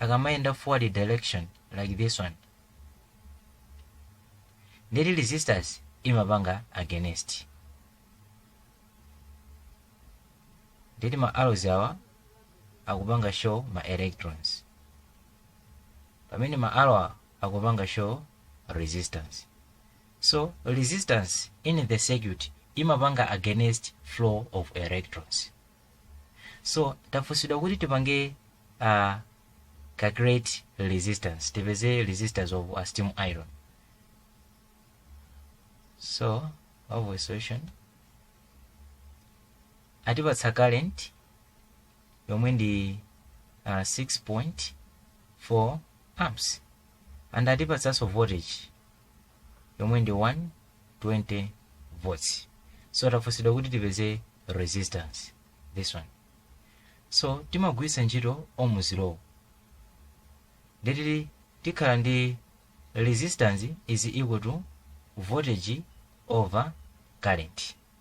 akamayenda forward direction like this one ndeti resistance imapanga against ndeti ma arrows awa akupanga show ma electrons pamene ma arrow awa akupanga show resistance so resistance in the circuit imapanga against flow of electrons so tafunsidwa kuti tipange uh, calculate resistance tipeze resistance of a steam iron so for solution atipatsa current yomwe ndi uh, 6.4 amps and atipatsanso voltage yomwe ndi 120 volts so tafunsidwa kuti tipeze resistance this one so timagwiritsa ntchito ohms law ndeti tikhala ndi resistance is equal to voltage over current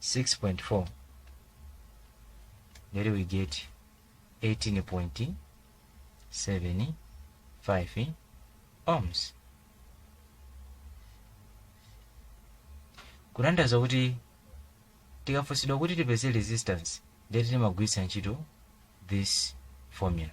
6.4 ndeti we get 18.75 ohms kutanthauza kuti tikafunsidwa kuti tipeze resistance ndeti timagwiritsa ntchito this formula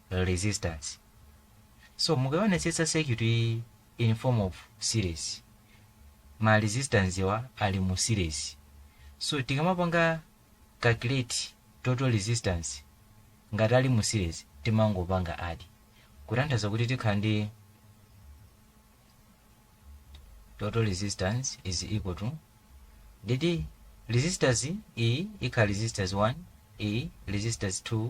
resistance so mukaonetsetsa circuit iyi in form of series ma resistance wa ali mu series so tikamapanga calculate total resistance ngati ali mu series timangopanga add kutanthauza kuti tikhala ndi total resistance is equal to ndeti resistance iyi ikhala resistance 1 iyi resistance 2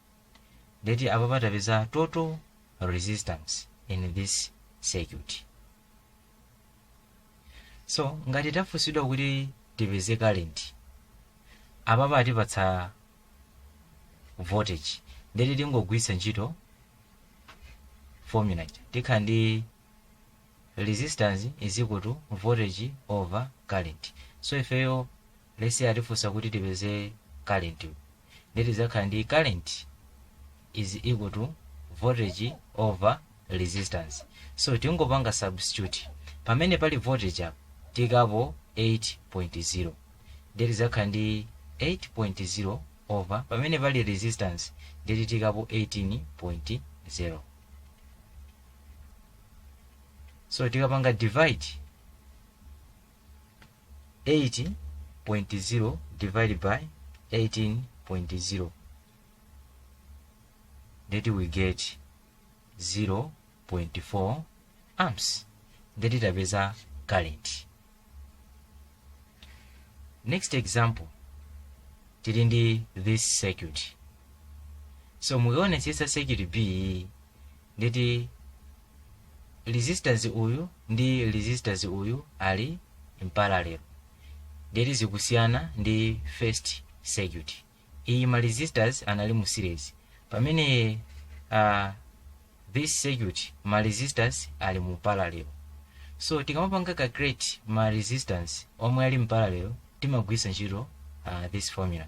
ndeti apapa tapeza total resistance in this circuit so ngati tafunsidwa kuti tipeze current apapa atipatsa voltage ndeti tingogwiritsa ntchito formula ija tikhala ndi resistance is equal to voltage over current so ifeyo let's say atifunsa kuti tipeze current ndeti tidzakhala ndi current is equal to voltage over resistance so tingopanga substitute pamene pali voltage apa tiikapo 8.0 ndeti tidzakhala ndi 8.0 over pamene pali resistance ndeti tiikapo 18.0 so tikapanga divide 8.0 divided by 18.0 ndeti we get 0.4 amps ndeti tapeza current next example tili ndi this circuit so mukaonetsetsa circuit b ndeti resistance uyu ndi resistance uyu ali in parallel ndeti zikusiyana ndi first circuit iyi ma resistors anali mu series pamene uh, this circuit ma resistors ali mu parallel so tikamapanga calculate ma resistance omwe ali mparallel timagwiritsa ntchito uh, this formula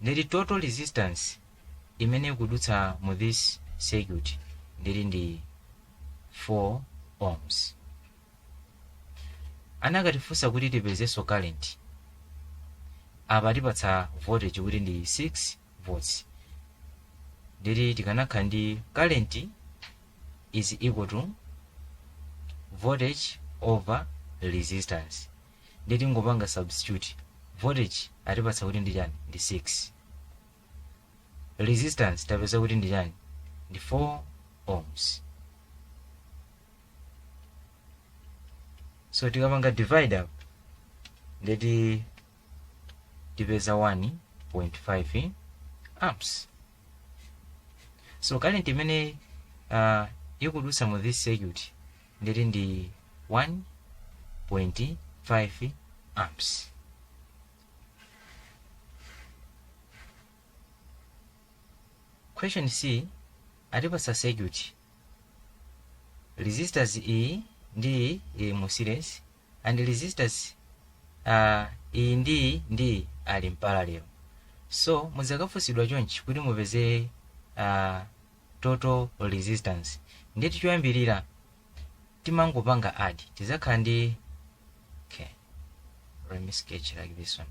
ndeti total resistance imene ikudutsa mu this circuit ndeti ndi 4 ohms anakatifunsa kuti tipezenso current apa atipatsa voltage kuti ndi 6 volts ndeti tikanakhala ndi current is equal to voltage over resistance ndeti tingopanga substitute voltage atipatsa kuti ndi chani ndi 6 resistance tapeza kuti ndi chani ndi 4 ohms so tikapanga divide apa ndeti tipeza 1.5 amps so current imene uh, ikudutsa mu this circuit ndeti ndi 1.5 amps question c atipatsa circuit resistors iyi ndi iyi ili mu series and resistors uh, iyi ndi iyi ndi iyi ali mparallel so mudzakafunsidwa chonchi kuti mupeze uh, total resistance ndeti choyambirira timangopanga add tizakhala ndi okay let me sketch like this one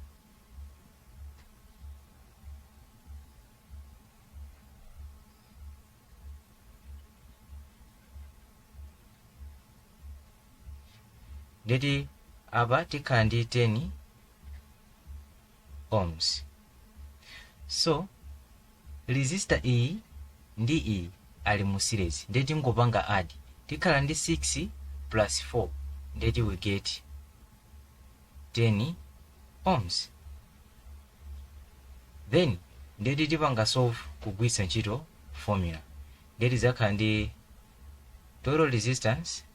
ndeti apa tikhala ndi 10 ohms so resistor iyi ndi iyi ali mu series ndeti tingopanga add tikhala ndi 6 plus 4 ndeti we get 10 ohms then ndeti tipanga solve kugwiritsa ntchito formula ndeti tidzakhala ndi total resistance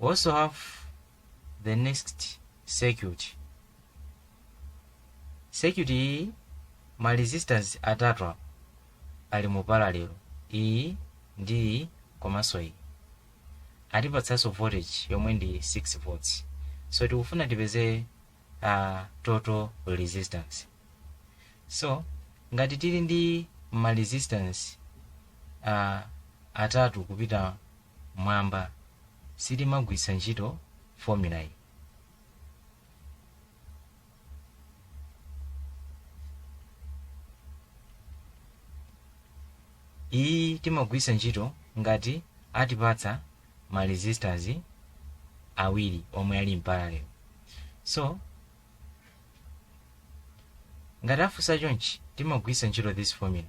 We also have the next circuit. Circuit iyi ma resistance atatuwa ali mu parallel. Iyi ndi iyi komanso iyi. Atipatsanso voltage yomwe ndi 6 volts. So tikufuna tipeze uh, total resistance. So ngati tili ndi ma resistance uh, atatu kupita mwamba sitimagwiritsa ntchito formula iyi iyi timagwiritsa ntchito ngati atipatsa ma resistance awiri omwe ali mparallel so ngati afunsa chonchi timagwiritsa ntchito this formula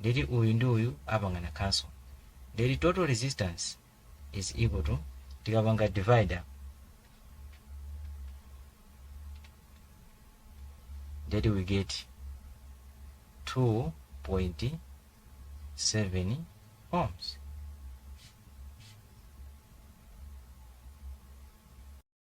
ndeti uyu ndi uyu apangana cancel ndeti total resistance is equal to tikapanga divide apa ndeti we get 2.7 ohms